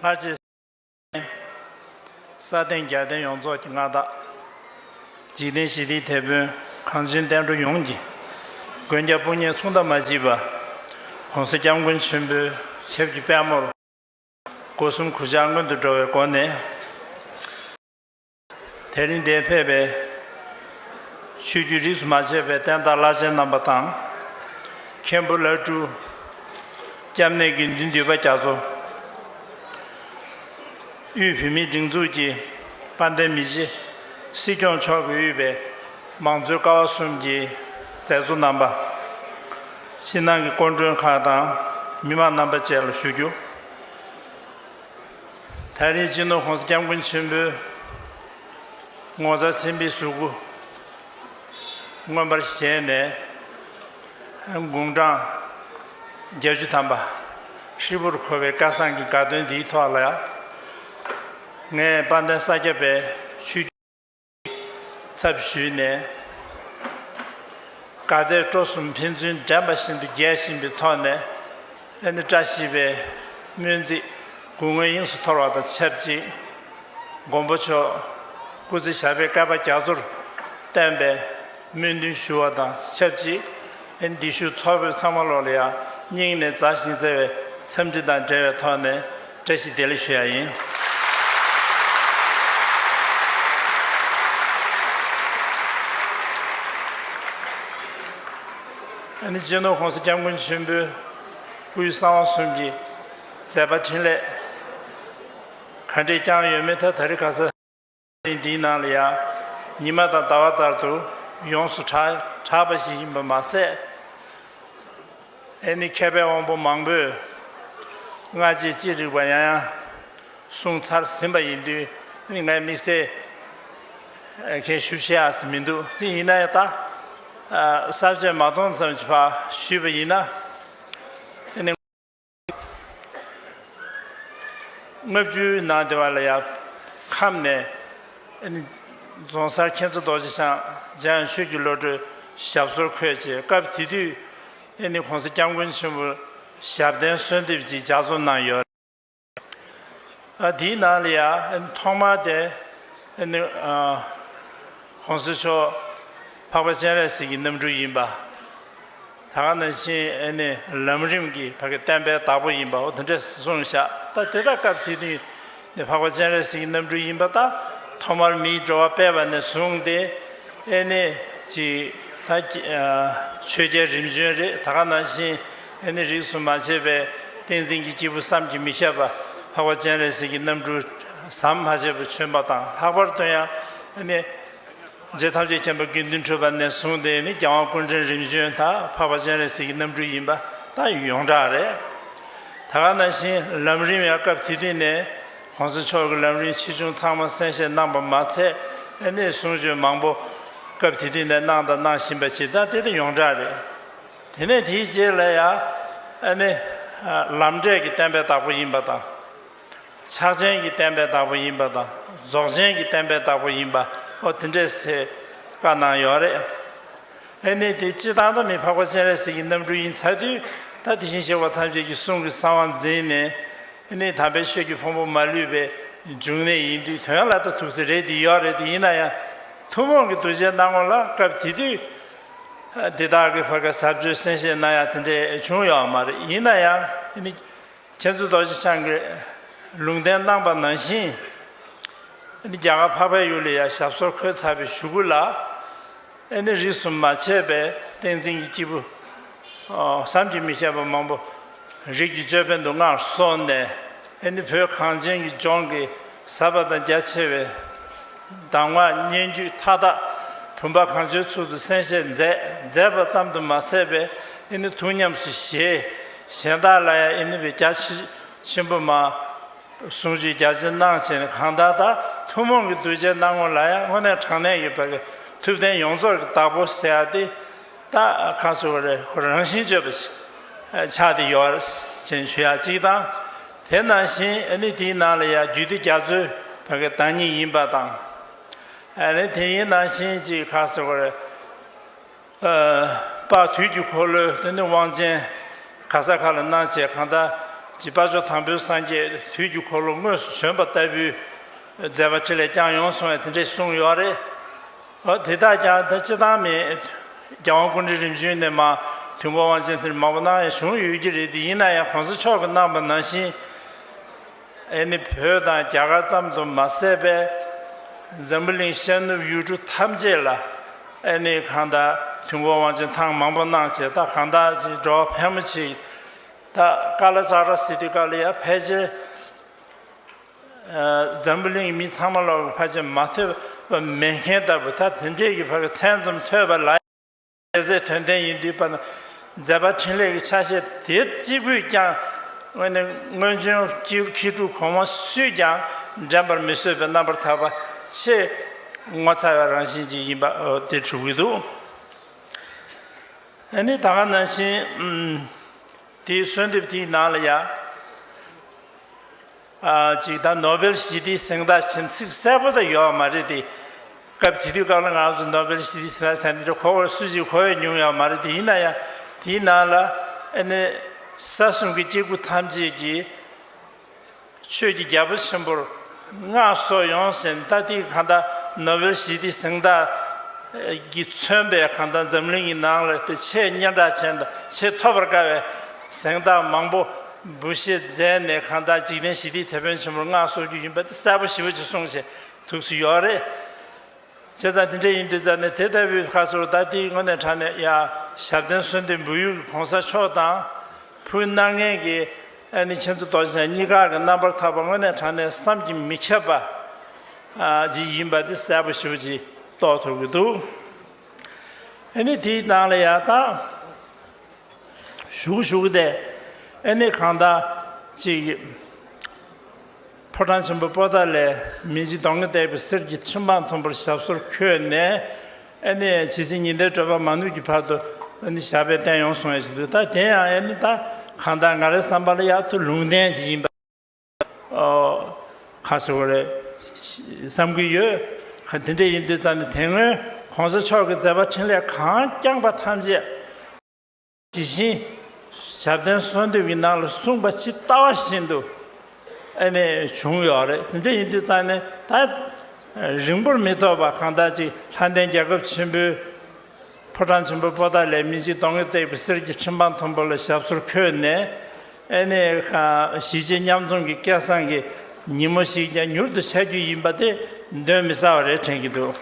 སྔར་རྗེས་ཟིན། ས་སྟེང་རྒྱལ་བསྟན་ཡོངས་རྫོགས་ཀྱི་མངའ་བདག། འཇིག་རྟེན་ཞི་བདེའི་དེད་དཔོན་གངས་ཅན་བསྟན་འགྲོ་ཡོངས་ཀྱི། མགོན་སྐྱབས་དཔུང་གཉེན་མཚུངས་ཟླ་མ་བཞི་པ། གོང་ས་སྐྱབས་མགོན་ཆེན་པོའི་ཞབས་ཀྱི་པདྨོར། སྒོ་གསུམ་གུར་ཕྱག་མངོན་དུ་འགྲོ་བའི་སྒོ་ནས། དེ་རིང་འདིར་ཕེབས་པའི། ཆོས་བརྒྱུད་རིས་སུ་མ་ཆད་པའི་བསྟན་བདག་བླ་ཆེན་རྣམ་པ་དང། མཁན་པོ་བླ་སྤྲུལ། སྐྱབས་གནས་དགེ་འདུན་འདུས་པ་རྒྱ་མཚོ། དབུས་བོད་མིའི་སྒྲིག་འཛུགས་ཀྱི་དཔལ་ལྡན་མི་བྱེད། སྲིད་སྐྱོང་མཆོག་གི་དབུས་པའི་མང་གཙོའི་ཀ་བ་གསུམ་གྱི་མཛད་གཙོ་རྣམ་པ། ཕྱི་ནང་གི་སྐུ་མགྲོན་ཁག་དང་མི་མང་རྣམ་པ་བཅས་ལ་ཞུ་རྒྱུ། ད་རེས་སྤྱི་ནོར་ཁོང་ས་སྐྱབས་མགོན་ཆེན་པོའི་ངོ་མཚར་མཚན་དཔེའི་གཟུགས་སྐུ་མངོན་པར་བཞད་ནས་དགུང་གྲངས་བརྒྱད་ཅུ་ཐམ་པ་ཧྲིལ་པོར་འཁོར་བའི་བསྐལ་བཟང་གི་དགའ་སྟོན་འདིའི་ཐོག་ལ་ངས་དཔལ་ལྡན་ས་སྐྱ་པའི་ཆོས་ཚབ་ཞུས་ནས། དགའ་དད་སྤྲོ་གསུམ་ཕན་ཚུན་འགྲན་པ་བཞིན་དུ་རྒྱས་བཞིན་པའི་ཐོག་ནས། ཨ་ནེ་བཀྲ་ཤིས་པའི་སྨོན་ཚིག་དགུང་སྔོན་དབྱིངས་སུ་འཐོར་བ་དང་ཆབས་ཅིག་མགོན་པོ་མཆོག་སྐུ་ཚེ་ཞབས་པད་བསྐལ་པ་རྒྱ་མཚོར་བརྟན་པའི་སྨོན་འདུན་ཞུ་བ་དང་ཆབས་ཅིག་འདི་བཞུགས་ཚོགས་ཕེབས་ཚང་མ་ལོག་ལ་ཡང་སྙིང་ནས་མཛའ་ཞིང་བརྩེ་བའི་འཚམས་འདྲི་དང་འབྲེལ་བའི་ཐོག་ནས། བཀྲ་ཤིས་བདེ་ལེགས་ཞུ་ཡ་ཡིན། ཨ་ནི་སྤྱི་ནོར་ཁོང་སི་སྐྱབས་མགོན་ཆེན་པོའི་སྐུའི་གསང་བ་གསུམ་གྱི་མཛད་པ་འཕྲིན་ལས། ག་འདྲས་ཀྱང་ཡོད་མེད་ཐ་ད་རི་ཁ་ས། གནས་འདིའི་ནང་ལ་ཡང་ཉི་མ་དང་ཟླ་བ་ལྟར་དུ་ཡོངས་སུ་གྲགས་པ་ཞིག་ཡིན་པ་མ་ཟད། ཨེ་ནི་མཁས་པའི་དབང་པོ་མང་པོས་སྔ་རྗེས་ཅི་རིགས་པ་ཡང་ཡང་གསུངས་ཚར་ཟིན་པ་ཡིན་དུས་ནི་ངས་དམིགས་བསལ་ཁྱད་ཞུ་བྱེད་ཨ་ས་མི་འདུག་དེ་ཡིན་ན་ཡང་ད་ལྟ་ཟབ་ཆོས་མ་སྟོང་ཙམ་གྱི་བར་ཞུས་པ་ཡིན་ན། ལྔ་བཅུའི་ནང་དེ་བ་ལ་ཡང་ཁམས་ནས། རྫོང་སར་མཁྱེན་བརྩེ་རྡོ་རྗེ་འཆང་འཇམ་དབྱངས་ཆོས་ཀྱི་བློ་གྲོས་ཞབས་སོར་འཁོད་ཅེས་སྐབས་དེ་དུས ྋགོང་ས་སྐྱབས་མགོན་ཆེན་པོ་ཞབས་བརྟན་གསོལ་འདེབས་ཀྱི་ལྗགས་རྩོམ་གནང་ཡོད། དེའི་ནང་ལ་ཡང་ཐོག་མར་དེ ྋགོང་ས་མཆོག་འཕགས་པ་སྤྱན་རས་གཟིགས་ཀྱི་རྣམ་སྤྲུལ་ཡིན་པ། ད་ག་ནས་ཕྱིན་ཨེ་ནས་ལམ་རིམ་གྱི་བར་གྱི་བསྟན་པའི་བདག་པོ་ཡིན་པའོ་དེ་འདྲ་གསུངས་བཞག་ད་དེ་དག་སྐབས་དེ་དུས་ནས་འཕགས་པ་སྤྱན་རས་གཟིགས་ཀྱི་རྣམ་སྤྲུལ་ཡིན་པ་དག་ཐོག་མར་མིའི་འགྲོ་བ་སྤེལ་བ་ནས་བཟུང་སྟེ་ཨེ་ནས་ཅིག་ད་ཆོས་རྒྱལ་རིམ་བྱོན་རེད་ད་ག་ནང་བཞིན་ཨེ་ནས་རིགས་སུ་མ་ཆད་པའི་བསྟན་འཛིན་གྱི་སྐྱེས་བུ་བསམ་གྱིས་མི་ཁྱབ་པ་འཕགས་པ་སྤྱན་རས་གཟིགས་ཀྱི་རྣམ་སྤྲུལ་ཟམ་མ་ཆད་པ་བྱོན་པ་དང་ལྷག་པར་དུ་ཡང་ཨེ་ནས། རྫས་ཐམས་ཅད་མཁྱེན་པ་དགེ་འདུན་ཁྲོས་པ་ནས་བཟུང་སྟེ་ནི་རྒྱལ་དབང་ཀུན་འདྲེན་རིམ་བྱོན་དག་འཕགས་པ་སྤྱན་རས་གཟིགས་ཀྱི་རྣམ་སྤྲུལ་ཡིན་པ་དང་ཡོངས་གྲགས་རེད། ད་ག་ན་བཞིན་ལམ་རིམ་ཡང་སྐབས་དེ་དུས་ནས ྋགོང་ས་མཆོག་གི་ལམ་རིམ་ཆེ་ཆུང་ཚང་མ་གསན་བཞེས་གནང་པ་མ་ཚད་དེ་ནས་གསུང་ཆོས་མང་པོ་སྐབས་དེ་དུས་ནས་གནང་དང་གནང་བཞིན་པ་ཞིག་དང་དེ་དང་ཡོངས་གྲགས་རེད། དེ་ནས་དེའི་རྗེས་ལ་ཡང་ནི་ལམ་འབྲས་ཀྱི་བསྟན་པའི་བདག་པོ་ཡིན་པ་དང། ཕྱག་ཆེན་གྱི་བསྟན་པའི་བདག་པོ་ཡིན་པ་དང་རྫོགས་ཆེན་གྱི་བསྟན་པའི་བདག་པོ་ཡིན་པ་འོ་དེ་འདྲའི་ཚེ་བཀའ་གནང་ཡོད་རེད། ཨེ་ནས་དེ་སྤྱི་བཏང་དང་མི་འཕགས་པ་སྤྱན་རས་གཟིགས་ཀྱི་རྣམ་སྤྲུལ་ཡིན་ཚར་དུས་ད་དེ་བཞིན་གཤེགས་པ་ཐམས་ཅད་ཀྱི་གསུང་གི་གསང་བ་འཛིན་ནས་ཨེ་ནས་དམ་པའི་ཆོས་ཀྱི་ཕུང་པོ་མ་ལུས་པའི་འབྱུང་གནས་ཡིན་དུས་དོན་ལ་ད་ཐུག་ཚེ་རེད་དེ་ཡོད་རེད་དེ་ཡིན་ན་ཡང་ཐུན་མོང་གི་གདུལ་བྱའི་སྣང་ངོ་ལ་སྐབས་དེ་དུས་དེ་དག་གི་བར་ག་ཟབ་ཆོས་གསན་བཞེས་གནང་ཡག་དེ་འདྲས་བྱུང་ཡོད་མ་རེད་ཡིན་ན་ཡང་ཨེ་ནས། ཁྱེད་ཚོ་རྡོ་རྗེ་འཆང་གི་ལུང་བསྟན་གནང་པ་ནང་བཞིན། ཨ་ནི་རྒྱ་གར་འཕགས་པའི་ཡུལ་ལ་ཡང་ཞབས་སོར་འཁོད་ཚར་བའི་ཞུ་སྐུ་ལ། ཨ་ནི་རིས་སུ་མ་ཆད་པའི་བསྟན་འཛིན་གྱི་སྐྱེས་བུ། བསམ་གྱིས་མི་ཁྱབ་པ་མང་པོ་རིགས་ཀྱི་ཅོད་པན་དུ་མངའ་གསོལ་ནས། ཨ་ནི་བོད་གངས་ཅན་གྱི་ལྗོངས་ཀྱི་ཟབ་པ་དང་རྒྱ་ཆེ་བའི། གདམས་ངག་སྙན་བརྒྱུད་མཐའ་དག་བུམ་པ་གང་བྱོའི་ཚུལ་དུ་གསན་བཞེས་མཛད། མཛད་པ་ཙམ་དུ་མ་ཟད་པས་ཨེ་ནུ་ཐུགས་ཉམས་སུ་བཞེས། གཞན་དག་ལ་ཡང་ཨེ་ནུ་བའི་བརྒྱ་བྱིན་ཆེན་པོ་མ། ཟུང་བཅུའི་བརྒྱ་བྱིན་སྣང་བྱེད་ནི་གང་དག་དག་ཐུན་མོང་གི་གདུལ་བྱའི་སྣང་ངོ་ལ་ཡང་དངོས་གནས་དྲང་གནས་ཡོད་པ་ལས་ཐུབ་བསྟན་ཡོངས་རྫོགས་ཀྱི་བདག་པོ་ཟེར་བ་དེ་དག་གང་སུ་ཨོ་རེ་ཧོ་རང་བཞིན་བརྗོད་པ་ཆགས་ཏེ་ཡོ་བར་བྱིན་ཞུ་ཡ་གཅིག་དང། དེ་ནང་བཞིན་ནི་དེའི་ནང་ལ་ཡང་རྒྱུད་སྡེ་རྒྱ་མཚོའི་བར་དང་ཉིད་ཡིན་པ་དང། ནི་དེ་ཡི་ནང་བཞིན་གྱི་ཁ་ཟེར་བ། པ་དུས་ཀྱི་འཁོར་ལོའི་དེ་ནི་དབང་ཅན། ག་ས་ག་ལ་སྣང་བྱེད་གང་དག་གི་དཔའ་མཆོག་དང་པོའི་སངས་རྒྱས་དུས་ཀྱི་འཁོར་ལོ་དངོས་སུ་བྱོན་པ་ལྟ་བུའི་མཛད་པ་ཁྲི་ལས་ཀྱང་ཡོངས་སོང་བས་དེ་འདྲའི་གསུང་ཡོད་རེད། དེ་དག་ཀྱང་ད་ཅི་ཐང་མེད། རྒྱལ་དབང་ཀུན་འདྲི་རིམ་བྱོན་ནས་མ། དུས་འཁོར་དབང་ཆེན་ཐེར་མང་པོ་ན་ཡང་བྱུང་ཡོད་ཀྱི་རེད་དེ་ཡིན་ན་ཡང་གོང་ས་མཆོག་གི་གནང་བ་ནང་བཞིན། ཨེ་ནི་བོད་དང་རྒྱ་གར་ཙམ་དུ་མ་ཟད་པས། འཛམ་བུ་གླིང་ཤར་ནུབ་ཡུལ་གྲུ་ཐམས་ཅད་ལ། ཨེ་ནི་གང་དག་དུས་འཁོར་དབང་ཆེན་ཐང་མང་པོ་གནང་བྱས་ད་གང་དག་ཅིག་འགྲོ་བ་ཕལ་མོ་ཆེའི། ད་ཀ་ལ་ཙཀྲ་སི་ཏི་ཀ་ལ་ཡ་ཕལ་ཆེར། འཛམ་བུ་གླིང་མི་ཚང་མ་ལོག་གི་ཕ་ཆེམས་མ་ཐོས་པ་མེད་མཁན་ལྟ་བུ་ད་དེ་འདྲས་ཀྱི་བར་གྱི་མཚན་ཙམ་ཐོས་པ་ལ་ཡང་ཟད་དོན་ལྡན་ཡིན་དུས་པ་ན་མཛད་པ་འཕྲིན་ལས་ཀྱི་ཆ་ཤས་དེ་གཅིག་པུས་ཀྱང་དངོས་ནི་སྔོན་བྱོན་སྐྱེས་བུ་ཁྱི་ཕྲུག་གོང་མ་སུས་ཀྱང་འགྲན་པར་མི་བཟོད་པའི་རྣམ་པར་ཐར་པ་ཆེས་ངོ་མཚར་བའི་རང་བཞིན་ཅིག་ཡིན་པ་དེ་གྲུབ་ཀྱི་འདུག་ཨ་ནི་ད་ག་ནང་བཞིན། དེའི་གསོལ་འདེབས་དེའི་ནང་ལ་ཡང། ཅིག་ད་ནོ་བེལ་ཞི་བདེའི་གཟེངས་རྟགས་བཞིན་ཚིག་གསལ་པོ་དག་ཡོད་པ་མ་རེད་དེ། སྐབས་དེ་དུས་སྐབས་ལ་ང་ཚོ་ནོ་བེལ་ཞི་བདེའི་གཟེངས་རྟགས་བྱ་འདི་འདྲ་གོ་བར་སུ་ཞིག་གོ་བས་མྱོང་ཡོད་པ་མ་རེད་དེ་ཡིན་ན་ཡང་དེའི་ནང་ལ་ཨ་ནེ། ས་གསུམ་གྱི་སྐྱེ་དགུ་ཐམས་ཅད་ཀྱིས། ཆོས་ཀྱི་རྒྱལ་པོ་ཆེན་པོར་མངའ་གསོལ་ཡོངས་ཟིན་རྟ་ཐིག་གང་དག་ནོ་བེལ་ཞི་བདེའི་གཟེངས་རྟགས་ཀྱིས་མཚོན་པའི་གང་དག་འཛམ་གླིང་གི་ནང་ལ་པའི་ཆེས་སྙན་གྲགས་ཅན་དང་ཆེས་ཐོབ་པར་དཀའ་བའི་གཟེངས་རྟགས་མང་པོ་འབུལ་བཞེས་མཛད་ནས་གང་དག་འཇིག་རྟེན་ཞི་བདེའི་དེད་དཔོན་ཆེན་པོར་མངའ་གསོལ་རྒྱུ་ཡིན་པ་དེ་གསལ་པོ་ཞི་བ་ཅིག་གསུངས་བྱས་ཐུགས་སུ་ཡོད་རེད། བྱས་ཙང་དེ་འདྲ་ཡིན་དུས་ད་ནི་དེ་ལྟ་བུའི་ཁ་ཟུར་རྟ་ཐིག་དངོས་གནས་དྲངས་ནས་ཡང་ཞབས་བརྟན་གསོལ་འདེབས་འབུལ་ཡུལ་གྱི་གོང་ས་མཆོག་དང། ཕུ་ནག་ངན་གྱི་ཨ་ནི་ཁྱེད་ཚོ་རྡོ་རྗེ་འཆང་གཉིས་ཀ་གི་རྣམ་པར་ཐར་པ་དངོས་གནས་དྲང་གནས་བསམ་གྱིས་མི་ཁྱབ་པ་ཞིག་ཡིན་པ་དེ་གསལ་པོ་ཞིབ་ཀྱིས་རྟོགས་ཐུབ་ཀྱི་འདུག་ཨ་ནི་དེའི་ནང་ལ་ཡང་དག་ཞུགས་ཞུགས་ཏེ་ཨ་ནི་གང་དག་ཅིག་ཕོ་བྲང་ཆེན་པོ་པོ་ཏཱ་ལའི་མི་འཇིགས་གདོང་ལྔས་བཏེགས་པའི་གསེར་གྱི་ཁྲི་འཕང་མཐོན་པོར་ཞབས་སོར་འཁོད་ནས། ཨེ་ནི་ཡང་ཇི་སྲིད་ཉི་ཟླའི་སྤྲོས་པ་མ་ནུབ་ཀྱི་བར་དུ་ཨེ་ནི་ཞགས་པའི་རྟེན་ཡོངས་བཟུང་ཡང་ཞིག་འདུག་ད་དེ་ཡང་ཨེ་ནི་ད་གང་ལྟར་ང་རའི་བསམ་པར་གཡག་ཐུ་ལུང་བསྟན་ཞིག་ཡིན་པ་ག་ཟེར་བ་རེད་བསམ་གྱི་ཡོད་ག་དེ་འདྲ་ཡིན་དུས་ཙམ་ནས་དེ་སྔོན་གོང་ས་མཆོག་གི་མཛད་པ་འཕྲིན་ལས་གང་བསྐྱངས་པ་ཐམས་ཅད། དེ་བཞིན་ཞབས་བརྟན་གསོལ་འདེབས་ཀྱི་ནང་ལ་གསུངས་པ་ཇི་ལྟ་བ་བཞིན་དུ་ཨེ་ནས་བྱུང་ཡོད་རེད་དེ་འདྲ་ཡིན་དུས་ཙང་ནས་ད་རིང་པོར་མི་ཐོགས་པར་གང་ལྟར་ཅིག་ལྷ་ལྡན་རྒྱལ་ཁབ་ཆེན་པོའི་ཕོ་བྲང་ཆེན་པོ་པོ་ཏཱ་ལའི་མི་འཇིགས་གདོང་གིས་བཏེགས་པའི་གསེར་གྱི་ཁྲི་འཕང་མཐོན་པོ་ལ་ཞབས་སོར་འཁོད་ནས། ཨེ་ནས་གཞིས་བྱེས་མཉམ་འཛོམས་ཀྱི་སྐལ་བཟང་གི་ཉིན་མོ་ཞིག་ཀྱང་མྱུར་དུ་འཆར་རྒྱུ་ཡིན་པ་དེ་གདོན་མི་ཟ་བ་རེད་དྲན་གྱི་འདུག།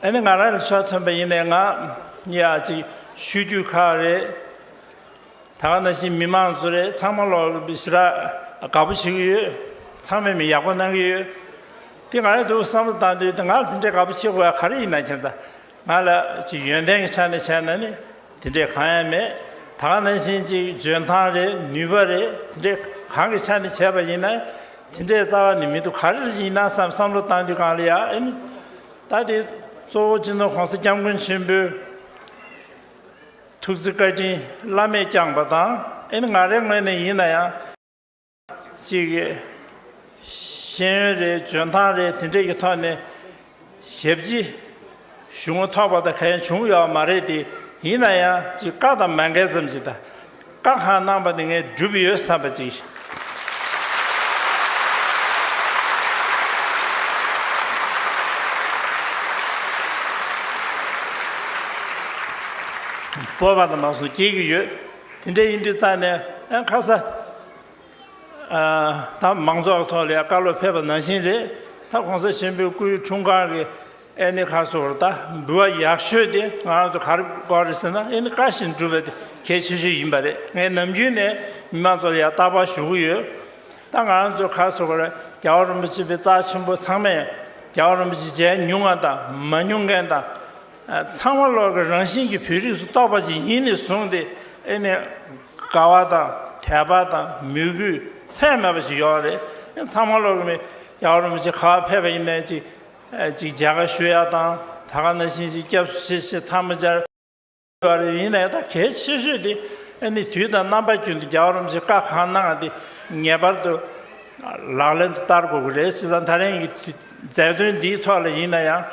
ཨེ་ནས་ང་རང་ལ་ཆོས་ཐོན་པ་ཡིན་ནས་ང་ཡང་ཅིག་ཞུ་རྒྱུ་ཁག་རེད། ད་ག་ན་བཞིན་མི་མང་ཚོ་རེད་ཚང་མ་ལོག་ལོག་བྱེད་ར་དགའ་པོ་བྱེད་ཀྱི་ཡོད་ཚང་མས་མི་ཡག་པོ་གནང་གི་ཡོད་དེ་ང་ཡང་དུ་བསམ་བློ་བཏང་དུས་དེ་ང་ལ་དེ་འདྲས་དགའ་པོ་བྱེད་དགོས་ཡ་ག་རེ་ཡིན་ན་ཁྱེད་ད་ང་ལ་ཅིག་ཡོན་ཏན་གྱི་ཆ་ནས་བྱས་ན་ནི་དེ་འདྲས་གང་ཡང་མེད་ད་ག་ན་བཞིན་ཅིག་འཇོན་ཐང་རེད་ནུས་པ་རེད་དེ་འདྲས་གང་གི་ཆ་ནས་བྱས་པ་ཡིན་ན་དེ་འདྲས་རྩ་བ་ནས་མི་འདུག་ག་རེ་རེ་ཡིན་ན་བསམ་བསམ་བློ་བཏང་དུས་གང་ལ་ཡ་ཨེ་ནུས་ད་དེ་གཙོ་བོ་སྤྱི་ནོར་གོང་ས་སྐྱབས་མགོན་ཆེན་པོས། ཐུགས་རྗེ་བཀའ་དྲིན་བླ་མས་བསྐྱངས་པ་དང་ཨེ་ནི་ང་རེ་ངོས་ནས་ཡིན་ན་ཡང། གཅིག། ཤེས་ཡོན་རེད་འཇོན་ཐང་རེད་དེ་འདྲས་ཀྱི་ཐོག་ནས། ཞབས་སྤྱི། ཞུ་ངོ་ཐོག་པ་དང་ག་ཡང་བྱུང་ཡོད་བ་མ་རེད་དེ། ཡིན་ན་ཡང་གཅིག་བཀའ་དང་མ་འགལ་ཙམ་ཞིག་དང། བཀའ་གང་གནང་པ་དེ་ངས་བསྒྲུབས་ཡོད་བསམ་པ་ཅིག། སྤོབས་པ་དང་མ་སོགས་སྐྱེ་གི་ཡོད། དེ་འདྲ་ཡིན་དུས་རྩ་ནས་ཁ་ས་དང་མང་ཚོགས་ཐོག་ལས་ཀ་ལོ་ཕེབས་པ་ནང་བཞིན་རེད་ད ྋགོང་ས་ཆེན་པོའི་སྐུའི་འཁྲུངས་སྐར་གི་ཨེ་ནི་ཁ་སོ་ར་ད་འབུལ་བ་ཡག་ཤོས་དེ་ང་རང་ཚོ་ག་རེ་དགོས་རེད་ཟེར་ན་ཨེ་ནི་བཀའ་བཞིན་སྒྲུབ་པ་དེ་གལ་ཆེ་ཤོས་ཡིན་པ་རེད་ངས་ནམ་རྒྱུན་ནས་མི་མང་ཚོར་ཡང་བརྟག་པར་ཞུ་གི་ཡོད། ད་ང་རང་ཚོ་ག་སོ་ག་ར་རྒྱལ་བ་རིན་པོ་ཆེ་པའི་རྩ་ཆེན་པོ་ཚང་མས་རྒྱལ་བ་རིན་པོ་ཆེ་མཇལ་མྱོང་མཁན་དང་མ་མྱོང་མཁན་དང། ཚང་མ་ལོག་གི་རང་བཞིན་གྱི་བོད་རིགས་སུ་གཏོགས་པ་ཞིག་ཡིན་ནས་བཟུང་སྟེ་ཨེ་ནི་དགའ་བ་དང་དད་པ་དང་མོས་གུས་ཚད་མེད་པ་ཞིག་ཡོད་རེད། ཚང་མ་ལོག་གི་མི་རྒྱལ་བ་རིན་པོ་ཆེ་ག་བ་ཕེབས་པ་ཡིན་ནའི་ཅིག། ཅིག་བྱ་ག་ཞུ་ཡག་དང་ད་ག་ན་ཤིང་ཞིག་སྐྱབས་སུ་ཆེ་ཞེས་ཐག་མི་སྦྱར། བ་རེ་ཡིན་ནའི་ད་གལ་ཆེ་ཤོས་དེ་ནི་དུས་དང་རྣམ་པ་རྒྱུན་དུ་རྒྱ་བ་རམ་ཞེས་བཀའ་གང་གནང་དེ་ངེས་པར་དུ་ལག་ལེན་དུ་བསྟར་དགོས་ཀྱི་རེད་ཅེས་དང་ད་རིང་གི་མཛད་དོན་འདིའི་ཐོག་ལ་ཡིན་ན་ཡང་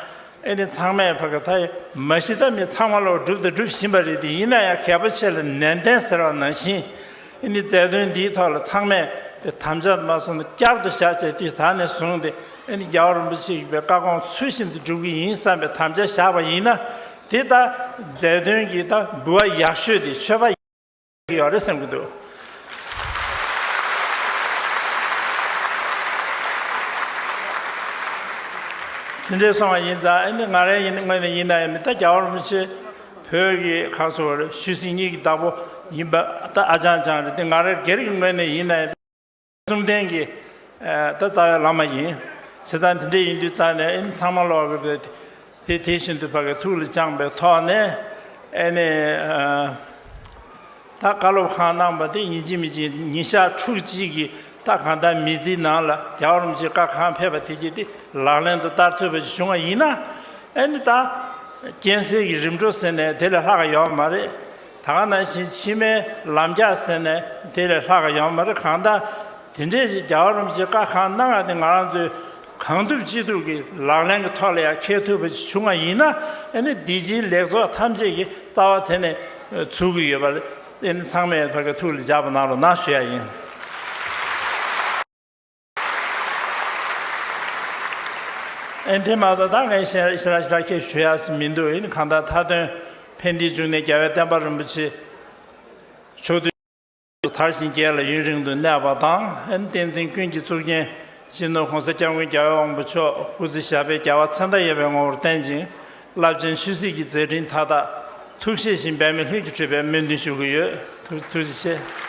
ཨེ་ནི་ཚང་མས་བ་ག་ད་ཡི་མ་ཤི་ད་མི་ཚང་མ་ལོག་སྒྲུབ་དང་སྒྲུབ་བཞིན་པ་རེད་དེ་ཡིན་ན་ཡང་གལ་པོ་ཆེ་ལ་ནན་ཏན་ཟེར་བ་ནང་བཞིན་ཨེ་ནི་རྫས་དོན་འདིའི་ཐོག་ལ་ཚང་མས་དེ་དམ་བཅའ་མ་སོང་ན་བསྐྱར་དུ་བཞག་བྱས་དུས་ད་ནས་བཟུང་སྟེ་ཨེ་ནི་རྒྱལ་བ་རིན་པོ་ཆེ་ཡིན་པའི་བཀའ་དགོངས་ཚུལ་བཞིན་དུ་སྒྲུབ་ཀྱི་ཡིན་བསམ་པའི་དམ་བཅའ་བཞག་པ་ཡིན་ན་དེ་ལྟ་རྫས་དོན་གྱི་ད་འབུལ་བ་ཡག་ཤོས་དེ་ཆོས་པ་ཡག་ཡོད་རེད་བསམ་གྱི་འདུག། དེ་འདྲས་སོང་བ་ཡིན་ཙང་ཨེ་ནི་ང་རང་ཡིན་ནི་དངོས་ནས་ཡིན་ནའི་མི་ད་རྒྱལ་བ་རིན་པོ་ཆེ། བོད་ཀྱི་ཁ་སོ་བར་ཤུལ་སྲིད་གཉིས་ཀྱི་བདག་པོ་ཡིན་པ་ད་ཨ་ཅང་ཅང་རེད་དེ་ང་རང་སྒེར་གྱི་ངོས་ནས་ཡིན་ན། བཅོམ་ལྡན་གྱི་ད་རྩ་བའི་བླ་མ་ཡིན། བྱས་ཙང་དེ་འདྲ་ཡིན་དུས་རྩ་ནས་ཨེ་ནི་ཚང་མ་ལོག་གི་རེད་དེ། དེ་བཞིན་དུ་བ་གའི་ཐུགས་ལ་བཅངས་པའི་ཐོག་ནས་ཨེ་ནི། ད་བཀའ་སློབ་གང་གནང་པ་དེ་ཉིན་གཅིག་མི་གཅིག་ཉིན་ཞག་ཕྲུག་གཅིག་གི་ད་གང་ལྟར་མི་ཚེའི་ནང་ལ་རྒྱ་གར་རོམ་གྱི་བཀའ་གང་ཕེབས་པ་དེ་གྱིས་དེ་ལག་ལེན་དུ་བསྟར་ཐུབ་པ་ཞིག་བྱུང་བ་ཡིན་ན། ཨེ་ནི་ད། རྐྱེན་སེལ་གྱི་རིམ་གྲོ་ཟེར་ནས་དེ་ལས་ལྷག་ཡོད་པ་མ་རེད། ད་ག་ནང་བཞིན་ཕྱི་མའི་ལམ་རྒྱག་ཟེར་ནས་དེ་ལས་ལྷག་ཡོད་པ་མ་རེད་གང་ལྟར། དེ་འདྲའི་ཞིག་རྒྱ་གར་རོམ་གྱི་བཀའ་གང་གནང་ཡང་དེ་ང་རང་ཚོའི། གང་ཐུབ་ཅི་ཐུབ་ཀྱིས་ལག་ལེན་གྱི་ཐོག་ལ་ཡང་འཁེལ་ཐུབ་པ་ཞིག་བྱུང་བ་ཡིན་ན་ཨ་ནི་འདི་ཕྱིའི་ལེགས་ཚོགས་ཐམས་ཅད་ཀྱི་རྩ་བ་དེ་ནས་ཚུགས་ཀྱི་ཡོད་པ་ལས་ཨ་ནི་ཚང་མས་བར་གྱི་ཐུགས་ལ་འཇགས་པ་ནང་ལ་ན་ཞུ་ཡག་ཡིན། ཨ་ནི་ཕན་མ་ཐག་ད་ངས་ཤེས་ར་ཤེས་ར་ཤེས་ར་ཁྱེད་ཞུ་ཡག་ཟིན་མི་འདུག་ཨ་ནི་གང་ལྟར་མཐའ་དོན་ཕན་བདེའི་གཅུང་ནས་རྒྱལ་བའི་བསྟན་པ་རིན་པོ་ཆེ་མཆོག་ཏུ། མཐར་གཤིན་རྒྱལ་ལ་ཡུན་རིང་དུ་གནས་པ་དང་ལྷན་བསྟན་འཛིན་ཀུན་གྱི་གཙུག་རྒྱན་སྤྱི་ནོར་གོང་ས་སྐྱབས་མགོན་རྒྱ་བོད་དབང་པོ་མཆོག་སྐུ་ཚེ་ཞབས་པད་བརྒྱ་བ་ཚེ་མདའ་ཡས་པའི་ངོ་བོར་བསྟན་ཅིང་རླབས་ཆེན་ཆོས་སྲིད་ཀྱི་མཛད་འཕྲིན་མཐའ་དག་ཐུགས་བཞེད་བཞིན་འབད་མེད་ལྷུན་གྱིས་འཁྲུལ་པའི་སྨོན་འདུན་ཞུ་གི་ཡོད། ཐུགས་རྗེ་ཆེ།